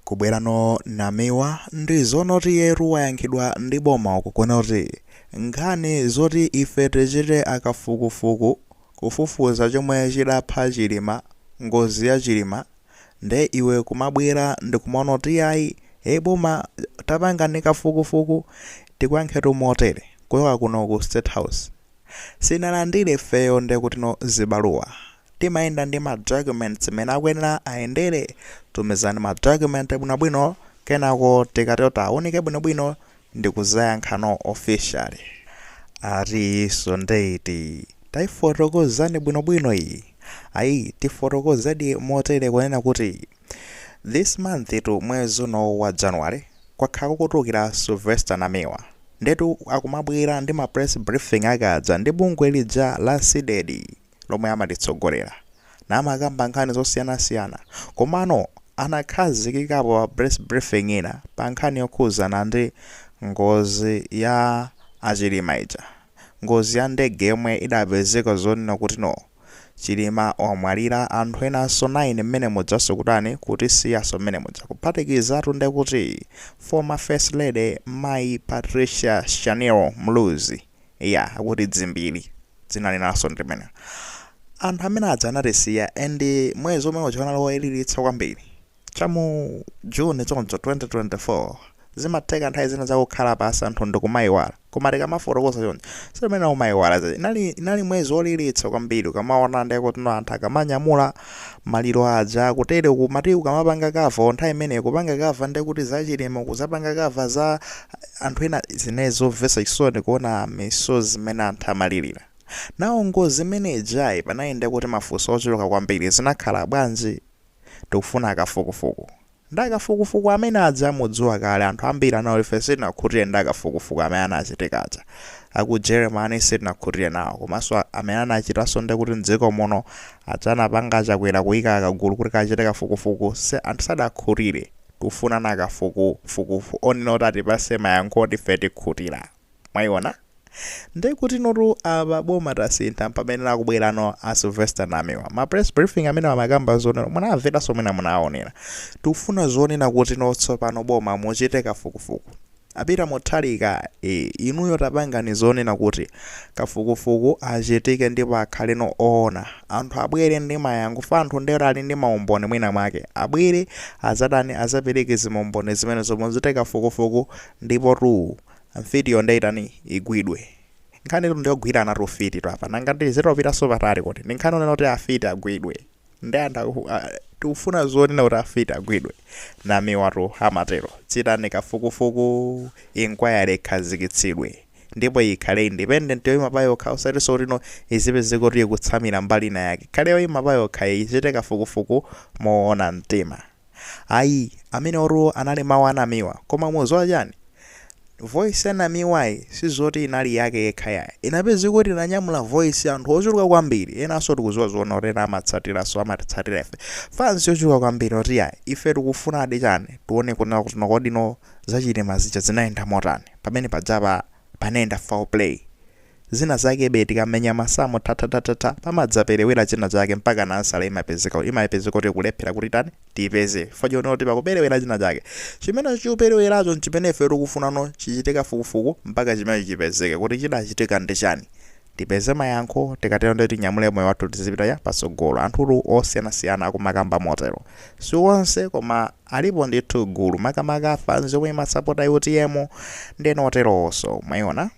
Kubwerano namiwa ndi zonoti iyetu wayankhidwa ndi boma uku kunena kuti nkhani zoti ife tichite akafukufuku kufufuza chomwe chidapha chilima ngozi ya chilima nde iwe kumabwera ndikumanena kuti ayi ee boma tapangani kafukufuku tikuyankhetu motere kuchoka kuno ku state house sinalandire ifeyo nde kuti no zipepala timayenda ndi ma documents amene akuyenera ayendere tumizani ma document bwinobwino kenako tikatero tiaunike bwinobwino ndikuzayankhano officially atiyi iyinso nde iti taifotokozani bwinobwino iyi ayi tifotokozedi motere kunena kuti this month tu mwezi uno wa january kwakhala kukutulukira sylvester namiwa ndetu akumabwera ndi ma press briefing aka aja ndi bungwe lija la CDEDI lomwe amalitsogolera namakamba nkhani zosiyanasiyana komano anakhazikikapo pa press briefing ina pa nkhani yokhuzana ndi ngozi ya a Chilima ija, ngozi ya ndege yomwe idapezeka zonena kuti no. Chilima wamwalira anthu enanso 9 mmene mujanso kutani kutisiyanso mmene muja kuphatikizatu ndekuti former first lady mayi Patricia Shanil Muluzi. ya akuti dzimbiri dzina linanso ndimene anthu amene aja anatisiya and mwezi omwe uja unali woliritsa kwambiri cha mu june choncho 2024 zimatheka nthawi zina zakukhala pasi anthu ndikumayiwala koma tikamafotokoza choncho sim'mene umayiwala zija inali, inali mwezi woliritsa kwambiri ukamaona nde kuti no anthu akamanyamula maliro aja kutere kumati ukamapanga kava nthawi imene kupanga kava nde kuti za Chilima kuzapanga kava za anthu ena zinali zomvesa chisoni kuona misozi mmene anthu amalilira nawo ngozi imene ijayi panali ndekuti mafunso ochuluka kwambiri zinakhala bwanji tikufuna akafukufuku ndi akafukufuku amene aja mudziwa kale anthu ambiri ananena kuti ife sitinakhutire ndi akafukufuku amene anachitika aja aku Jeremani sitinakhutire nawo komanso amene anachitanso ndekuti mdziko muno aja anapanga a Chakwera kuika kagulu kuti kachite kafukufuku anthu sadakhutire Tufunano akafukufuku onena oti atipase mayankho oti ife tikhutila mwaiona ndekutinotu apa boma tasintha mpamene akubwelano a Sylvester Namiwa ma press briefing amenewa amakamba zonena munamvelaso mwina munawaonela tikufuna zonena kutino tsopano boma muchite kafukufuku A Peter Mutharika ee inuyo tapangani zonena kuti kafukufuku achitike ndipo akhaleno oona. Anthu abwere ndi mayankho chifukwa anthu ndetu ali ndi maumboni mwina mwake abwere adzatani adzapereke zimaumboni zimenezo muchite kafukufuku ndipotu mfitiyo ndiye itani igwidwe. Nkhanitu ndiyogwiranatu ufititu apa nanga tizitopitanso patali kodi ndi nkhani yonena kuti afiti agwidwe? Nde anthu aku a tikufuna zoona kuti afiti agwidwe? Namiwatu amatero. Chitani kafukufuku, inquiry ikhazikitsidwe. Ndipo ikhale independent yoima payokha osatinso kuti no izipezeka kuti ikutsamira mbali inayake. Ikhale yoima payokha ichite kafukufuku moona mtima. Ayi, amenewotu anali mawu a Namiwa. Koma mukudziwa chani? Voice ya Namiwayi sizoti inali yake yekha yayi. Inapezeka kuti inanyamula voice ya anthu ochuluka kwambiri. Enanso tikudziwa zoona kuti ena amatsatiranso, amatitsatira ife. Fans yochuluka kwambiri oti yayi, ife tikufunadi chani, tione kunena kuti no kodi no za Chilima zija zinayenda motani. Pamene pajapa panayenda foul play. Zina zakebe tikamenya masamu thathathathatha pamadzaperewera china chake mpakana ansala imapezeka imapezeka kuti kulephera kuti tani tipeze fajo noti pakuperewera china chake chimene chikupereweracho nchimene ife tikufunano chichitike kafukufuku mpaka chimenecho chipezeke kuti chidachitika ndi chani tipeze mayankho tikatero ndiye tinyamule moyo wathu tizipita ya patsogolo anthutu osiyanasiyana akumakamba motero si onse koma alipo ndithu gulu makamaka fans yomwe imasapota utm ndeno oterowonso mwayiona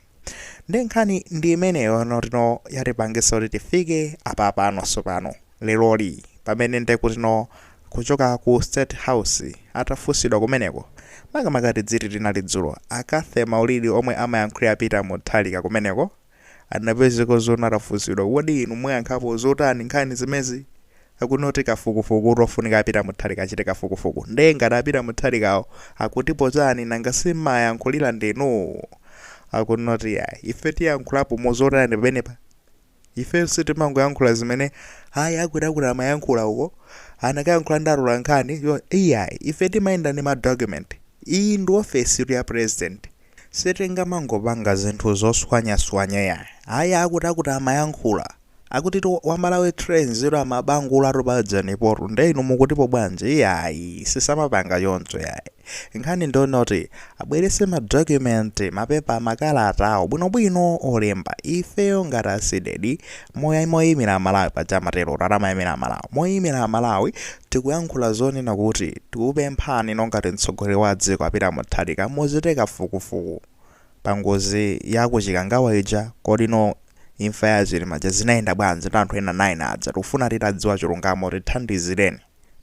nde nkhani ndi imeneyo notino yatipangisa kuti tifike apa pano tsopano leroli pamene nde kutino kuchoka ku state house atafunsidwa kumeneko makamaka tidziti linali dzulo a cathy maulidi omwe amayankhulira a peter mutharika kumeneko anapezeka zona atafunsidwa kodi inu muyankhapo zotani nkhani zimezi akunoti kafukufuku tofunika a peter mutharika achite kafukufuku nde ngati a peter mutharikawo akutipo chani nanga simmayankhulira ndinu akunoti yayi ife tiyankhulapo mozotani pamenepa ife sitimangoyankhula zimene ayi akwirakura amayankhula uko anakayankhula ndi atolankhani yo iyayi ife timayenda ndi madocument iyi ndi ofesi tu ya president sitingamangopanga zinthu zoswanyaswanya yayi ayi akutakuti amayankhula Akutitu wa Malawi Trains ilo amabangulatu pa Janipotu nde inu mukutipo bwanji? Iyayi, sisamapanga choncho yayi. Nkhani ndi yoti abweretse ma document, mapepa, makalata awo bwinobwino olemba. Ifeyo ngati a Cdedi, moya moyimira Amalawi paja amaterotu, ati amayimira Amalawi. Moyimira Amalawi tikuyankhula zonena kuti tikukupemphani inu ngati mtsogoleri wa dziko a Peter Mutharika muchite kafukufuku. pa ngozi ya ku chikangawa ija kodi no imfa ya achilima ija zinayenda bwanji ndi anthu ena 9 aja tikufuna titadziwa chilungamo tithandizireni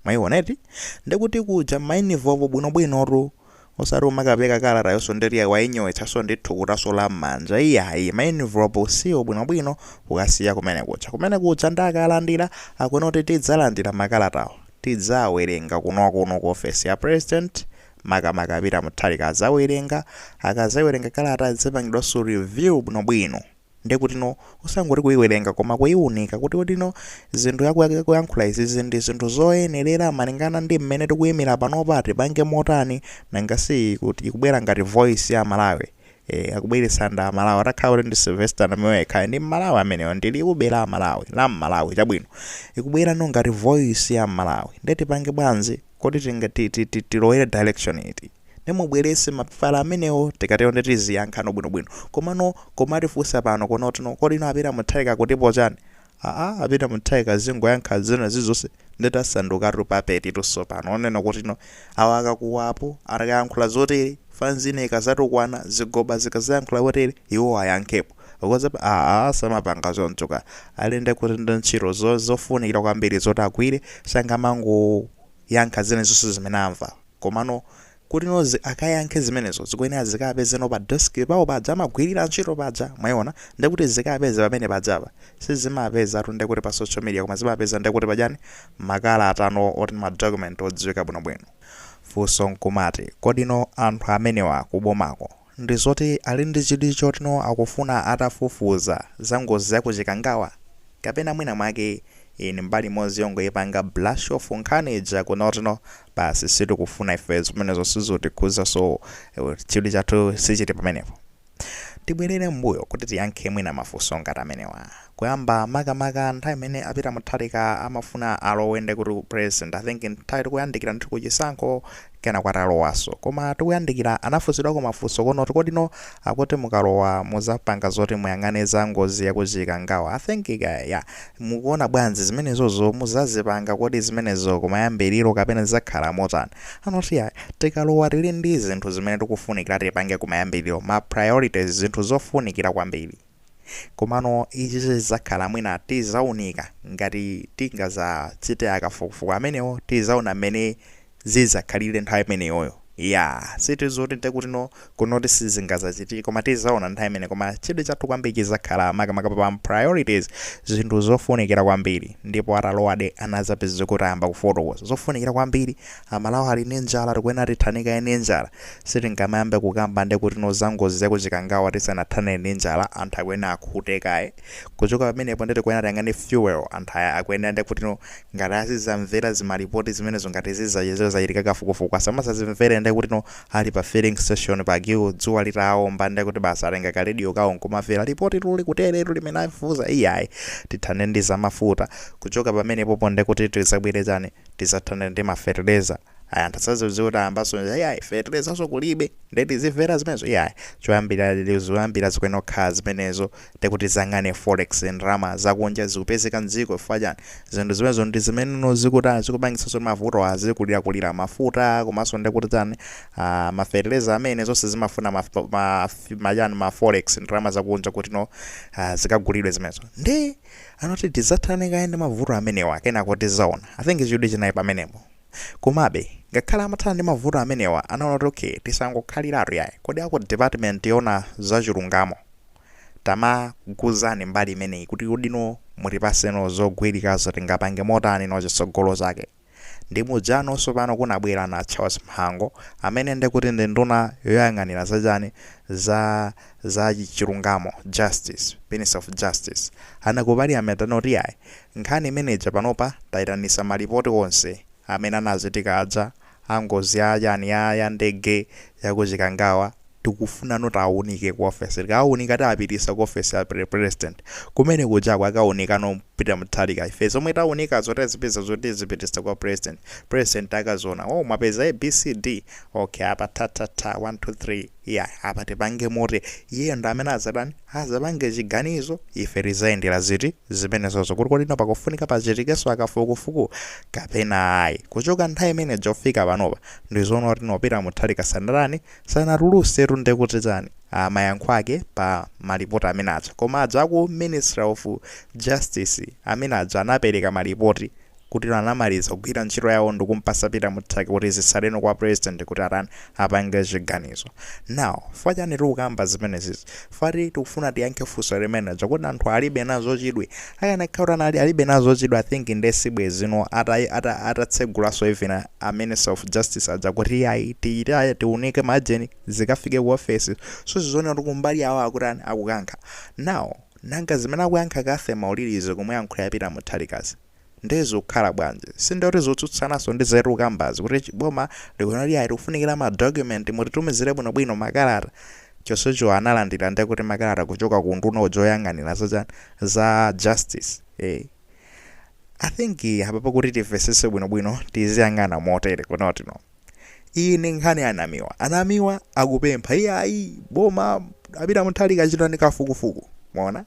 mwayiona eti ndikuti kuja mmainivopo bwinobwinotu osati umakapereka kalata yonso ndetiya wainyowetsanso ndi thukutanso la mmanja iyayi mainvopo usiwo bwinobwino ukasiya kumene kuja kumene kuja nde akalandira akunoti tidzalandira makalatawo tidzawerenga kunokuno ku ofesi ya president makamaka Peter Mutharika azawerenga, akazawerenga kalata izapangidwanso review bwinobwino ndekuti no osangoti kuiwerenga koma kuiunika kuti kodi no zinthu yakuyankhula izizi ndi zinthu zoyenerera malingana ndi mmene tikuimira panopa tipange motani nanga si ikubwera ngati voice ya Malawi e, akubweretsa nda Malawi atakhala kuti ndi Sylvester Namiwa yekhayo ndi Malawi ameneyo ndi liwu be la Malawi la Malawi chabwino ikubwera no ngati voice ya Malawi nde tipange bwanji Kodi tinga ti ti ti tilowere direction iti? Nde mubwerese mapepala amenewo tikatero nde tiziyankhano bwino bwino. Komano kumatifunsa pano kunoti no kodi no a Peter Mutharika akutipo chani? Aaa a Peter Mutharika akazingoyankha zina zizonse nde tasandukatu puppet tu tsopano onena kuti no awa akakuwa apo akayankhula zoterezi fanzi ina ikazatukwana zigoba zikazayankhula potere iwo ayankhepo. Ukoza aa samapanga choncho ka. Ali ndi kuti ndi ntchito zo- zofunikira kwambiri zoti agwire sangamangoyankha zina zonse zimene akumva. Komano kuti no zi akayankhe zimenezo zikuyenera zikapeze no pa desk pawo paja amagwirira ntchito paja mwayiona nde kuti zikapeze pamene pajapa. Sizimapezatu nde kuti pa social media koma zimapeza nde kuti pajani makalata no oti ma document odziwika bwinobwino. Funso n'kumati, kodi no anthu amenewa kubomako ndi zoti ali ndi chidwi choti no akufuna atafufuza za ngozi ya ku chikangawa? kapena mwina mwake iyi ndi mbali imodzi yongoipanga brush off nkhani ija kunoti no basi sitikufuna ife zimenezo sizikutikhuza so chidwi chathu sichili pamenepo? tibwelere mbuyo kuti tiyankhe mwina mafunso ngati amenewa kuyamba makamaka nthawi imene a peter mutharika amafuna alowe ndekuti u president i think nthawi tikuyandikira ndithu ku chisankho kenako atalowanso koma tikuyandikira anafunsidwako mafunso kunoti kodi no akuti mukalowa muzapanga zoti muyang'ane za ngozi ya ku chikangawa i think kaya ya mukuona bwanji zimenezozo muzazipanga kodi zimenezo kumayambiliro kapena zizakhala motani anoti ya tikalowa tili ndi zinthu zimene tikufunikira tipange kumayambiliro ma priorities zinthu zofunikira kwambiri Komano ichi chizakhala mwina tizaunika ngati tingazachite akafukufuku amenewo tizaona mmene zizakhalire nthawi imeneyoyo iyaa si zoti nde kuti no kunoti sizingazachitike koma tizaona nthawi imene koma chidwi chathu kwambiri chizakhala makamaka pa priorities zinthu zofunikira kwambiri ndipo atalowadi anazapeza kuti ayamba kufotokoza zofunikira kwambiri Amalawi ali ndi njala tikuyenera tithane kaye ndi njala sitingamayambe kukamba nde kuti no za ngozi ya ku Chikangawa tisanathane ndi njala anthu akuyenera akhute kaye kuchoka pamenepo nde tikuyenera tiyang'ane fuel anthu aya akuyenera nde kuti no ngati azizamvera zimalipoti zimenezo ngati zizachitika zachitika kafukufuku asamazazimvere nde kuti no ali pa filling station pa queue dzuwa litawomba nde kuti basi atenga ka radio kawo nkumamvera lipoti tu likuteretu limene afufuza iyayi tithane ndi za mafuta kuchoka pamenepopo nde kuti tizabwere chani tizathane ndi ma fertilizer ayi anthu asazatiuze kuti ayambaso iyayi fertilizaso kulibe nde tizimvera zimenezo iyayi choyambira zoyambira zikuyenera kukhala zimenezo ndekuti tiziyang'ane forex ndalama zakunja zikupezeka mdziko chifukwa chani zinthu zimenezo ndi zimene zikutani zikupangitsaso kuti mavuto azikulirakulira mafuta komanso ndekuti tani ah, ma fertilizer amene zonse zimafuna ma, ma, ma, yani ma forex ndalama zakunja kuti no ah, zikagulidwe zimenezo ndi Anati tizathane kaye ndi mavuto amenewa kenako tizaona. I think chidwi chinali pamenepo. Komabe, ngakhale amathana ndi mavuto amenewa, anaona kuti okay, tisangokhaliratu yayi. Kodi a ku department yoona za chilungamo tamatiuzani mbali imeneyi kuti kodi no mutipasenso zogwirikazo tingapange motani no chitsogolo chake. Ndi muja tsopano kunabwera na Charles Mhango amene nde kuti ndi nduna yoyang'anira za chani za za chilungamo, justice, minister of justice. Anali ku parliament anati yayi nkhani imene ija panopa taitanisa ma report onse amene anachitika aja a ngozi ya chani ya ya ndege ya ku Chikangawa. tikufuna kuti awunike ku office tikawunika tizapitisa ku office ya pre president kumene kujako akawunika ndi peter mutharika ife zomwe tawunikazo tazipeza zoti tizipitisa kwa president president akazaona oh mwapeza a b c d okay apa tha tha tha 1 2 3 yeah apa tipange motani iyeyo ndi amene azatani azapange chiganizo ife tizayendera ziti zimenezozo kuti kodi no pakufunika pachitikenso kafukufuku kapena ayi kuchoka nthawi imene ija kufika panopa ndizoona kuti no peter mutharika sanatani Sanatulusetu nde kuti chani? Aaa mayankho ake pa ma report amene aja. Koma aja aku ministry of justice amene aja anapeleka ma report kuti anamaliza kugwira ntchito yawo ndikumpasa Peter Mutharika kuti zitsaleno kwa president kuti atani apange chiganizo. Now chifukwa chani tikukamba zimenezi? Fa tikufuna tiyankhe funso limenelo kodi anthu alibe nazo chidwi? Akanakhala kuti anali alibe nazo chidwi I think nde sibwezi no ata ata atatsegulanso even a minister of justice aja kuti iyayi tiyitane tiunike majeni zikafike ku office so zikuoneka kuti kumbali yawo akutani akukankha now nanga zimene akuyankha Cathy Maulidizi womuyankhulira Peter Mutharikazi Ndiye zikhala bwanji? Sindiye kuti zikutsutsananso ndi zimene tikukambazi kuti chi- boma likunena kuti ayi tikufunikira ma document mutitumizire bwinobwino makalata. Chonsecho analandira ndiye kuti makalata kuchoka ku unduna uja woyang'anira za chan- za justice. Eh. I think apa pakuti timvesese bwinobwino tiziyang'ana motere kuno tino. iyi ndi nkhani ya namiwa anamiwa akupempha iye ayi boma a Peter Mutharika achitani kafukufuku mwaona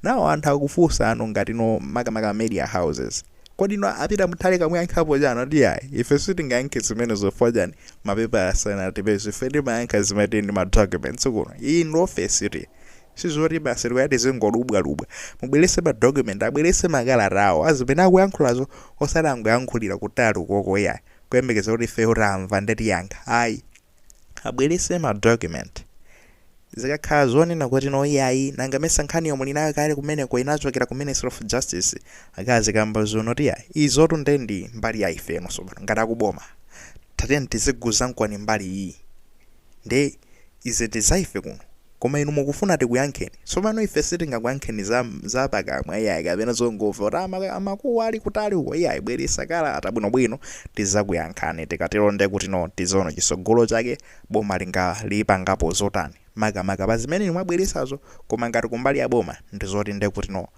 nawo anthu akufunsa ano ngati no makamaka media houses kodi no a Peter Mutharika muyankhapo chani ati ayi ife sitingayankhe zimene chifukwa chani mapepa asanatipeze ife timayankha zimene tili ndi ma documents kuno iyi ndi ofesi ti sizoti basi tikuyati zingodubwadubwa abwerese ma document abwerese makalata awo azimene akuyankhulazo osati angoyankhulira kutali ukoko iyayi kuyembekeza kuti ifeyo tamva nde tiyankha ayi abwerese ma document zikakhala zonena kuti no iyayi nanga mesa nkhaniyo muli nayo kale kumeneko inachokera ku ministry of justice akazikamba zonoti iyayi izotu nde ndi mbali ya ife no sopano ngati akuboma tatiyeni tiziguza nkwani mbali iyi nde Izi ndi za ife kuno. Koma inu mukufuna tikuyankheni. Tsopano, ife sitingakuyankheni za, za pakamwa, iyayi, kapena zongomva, kuti, a, ma, amakuwa ali kutali uko. Iyayi, bweresa kalata, bwino bwino, tidzakuyankhani. Tikatero ndiye kuti, no, tidziona chitsogolo chake, boma linga, lipangapo zotani, makamaka, pa zimene inu mwabweresazo. Koma ngati kumbali ya boma, ndi zoti ndiye kuti, no.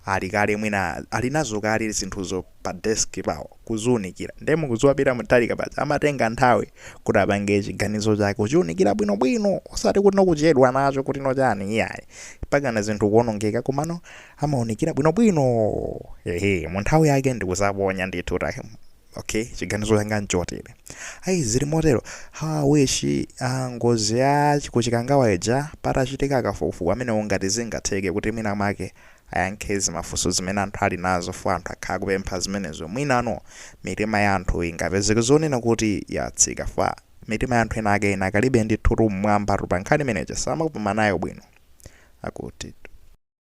Ali kale mwina alinazo kale zinthuzo pa desk pawo kuziunikira nde mukuziwa peter mutharika paja amatenga nthawi kuti apange chiganizo chake kuchiunikira bwino bwino osati kuti nokuchedwa nacho kuti nochani iyayi mpakana zinthu kuonongeka komano amaunikira bwino bwino ehe munthawi yake ndikuzaponya ndithu take okay chiganizo changa nchotere ayi zili motero ha wishi ah, ngozi ya chi- kuchikangawa ija patachitika kafukufuku pamenepo ngati zingatheke kuti mwina mwake ayankhe zimafunso zimene anthu ali nazo fo anthu akhala kupempha zimenezo mwinano mitima ya anthu ingapezeke zonena kuti yatsika fa mitima ya anthu ena ake inakalibe ndithu tu mmwamba tu pa nkhani imeneja sakupuma nayo bwino akuti